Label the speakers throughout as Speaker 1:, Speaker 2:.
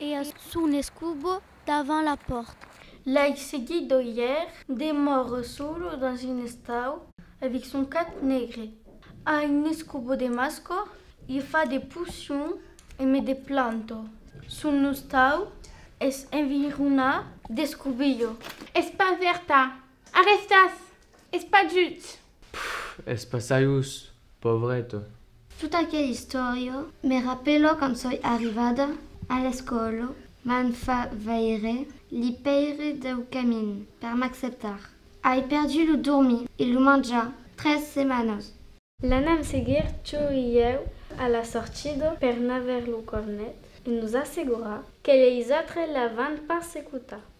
Speaker 1: E a son escubo davant la pòrta. L'ai seguit d'oier. Demòre solo dins un estau. Avec son cap negre. A un escubo de masco. Li fa de potion e me de planto. Son estau es environat d'escubillo. Es pas verta. Arrestàs! Es pas just! Pff, es passajus, pauvreto. Tot aquel istòrio me rapèlo quand soi arrivada a l'escòla, m'an fa veire li pèire deu camin per m'acceptar. Ai perdut lo dormir e lo manjar tres setmanas. L'anam seguir tu e ieu a la sortida per n'aver lo cornet e nos assegurar que leis autres la van pas secutar.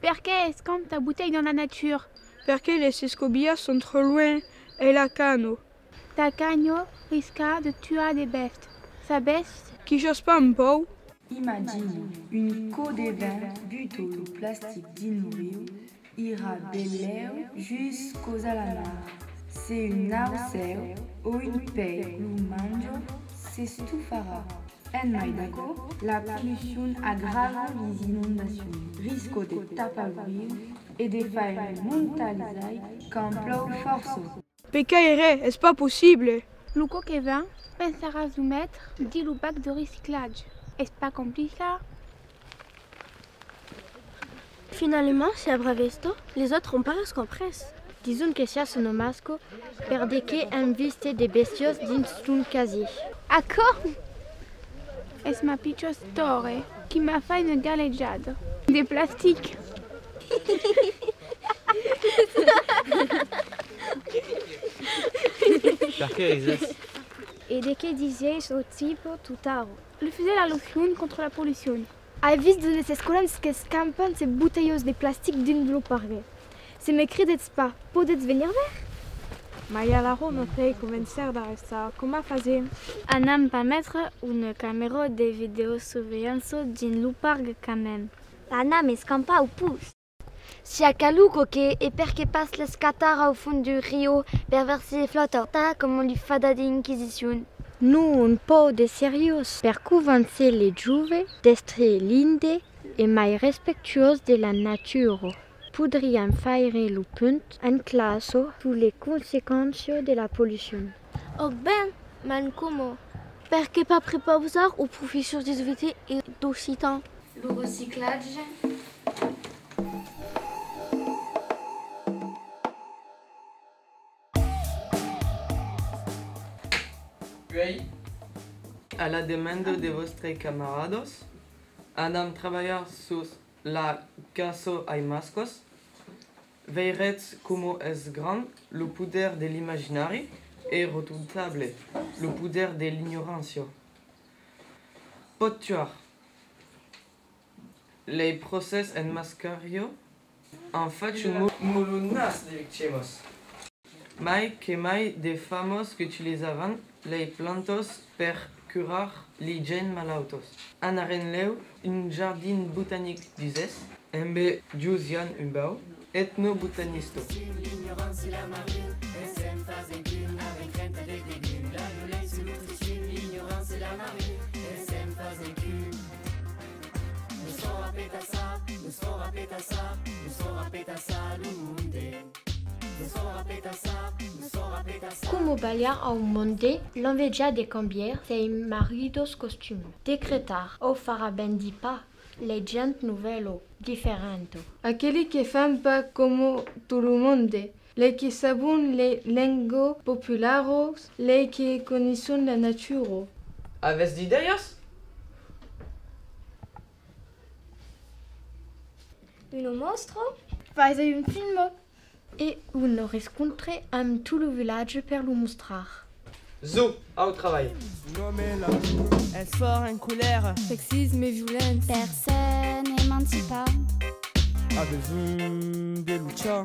Speaker 1: Perqué es qu'an ta butèi dans la nature? Perqué les escobilhas son tròu luènh e la canho? Ta canho risca de tuar de bèfts, sabètz? Qu'i jos pas un pòu? Imagina un icò de vent buto lo plastic dins lo riu Ira de lèu jus causa la mar. Se un naucèu o un pei lo manjo s'estufarà. En mai d'aquò, la pollucion agrava lis inondacions, risco de tapar lo riu e de faire montar lis aigs quand plòu fòrça. Pe caire, es pas possible! Lo coque vin, pensaràs lo maitre, di lo bac de reciclatge. Es pas complicat. Finalement, se avrà vesto, les autres ont pas res comprés. Dison que siá son omasco, per de qué èm viste de bestiós dins ton casier. Aquò es ma pichós tòre qui m'a fai una galejada de plastic. Perqué risètz? E de qué disèis lo tipo tutaro? Li fesèt allusion contra la pollucion. Ai vist d'unes escolans qu'escampan ses botelhos de plastic dins lo pargue. Se me credètz pas, podètz venir ver? Mai alara me fèi convencer d'arrestar. Coma fasèm? Anam pas metre una camèra de videosurveilhança dins lo pargue quand mème? Anam escampar au pus! Si a calu coque e perque pas l'escatar au fond du rio per ver si e flòta, tà coma li fa da d'inquisicion. Non pòu de seriós per convàncer le jove d'èstre linde e mai respectuós de la natura. Podriam faire lo punt en classa sus le consequenças de la pollucion. Òc ben, m'en como. Perqué pas prepausar aux professors de svt e d'occitan. Lo reciclatge. A la demanda de vòstres camaradas, anam trabalhar sus la cançó Ai mascòs, Veiretz coma es grand lo poder de l'imaginari e rotontable lo poder de l'ignorància. Pòt tuar. Lei procès en mascarió an fach un molonàs de victimas. Mai que mai de famós qu'utilizavan lei plantós per curar li gents malautós. Anarenleu un jardin botanic d'Uzès. Embe Jus Jan Humbau, etnobotanistò. Coma balhar au monde l'enveja de cambier sei marridos costumi, decretar au farà ben di pas lei gent novelo, diferento. Aqueli que fan pas coma tot lo monde, lei que sabon lei lengo popularos, lei que conisson la natura. Avètz d'idèias? Uno mostro. Faise un filmo. E uno rescontre amb tot lo vilatge per lo mostrar. Zo, au trabalh. Es fòrt en colèra. Sexisme e violents. Per s'emancipar. A besonh de luchar.